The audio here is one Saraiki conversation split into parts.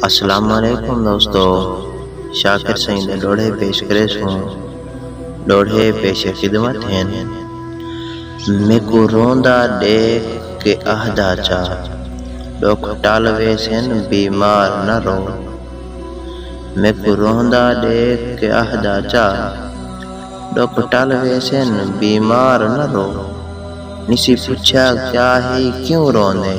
السلام علیکم دوستو شاکر سئیں دے ڈوہڑے پیش کرے سوں ڈوہڑے پیش خدمت ہن میکو روندا ڈیکھ کے آہدا چا ڈکھ ٹل ویسن بیمار نہ رو میکو روندا ڈیکھ کے آہدا چا ڈکھ ٹل ویسن بیمار نہ رو نسی پچھیا کیا ہی کیوں روندے۔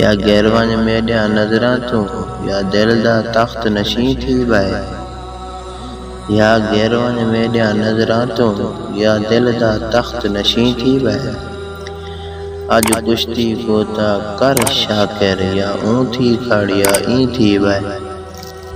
یا گر ونڄ میݙیاں نظراں توں یا دل دا تخت نشیں تھی ٻہہ یا گر ونڄ میݙیاں نظراں توں یا دل دا تخت نشیں تھی ٻہہ اڄ کشتی کوں تاں کر شاکر یا اوں تھی کھڑ یا ایں تھی ٻہہ۔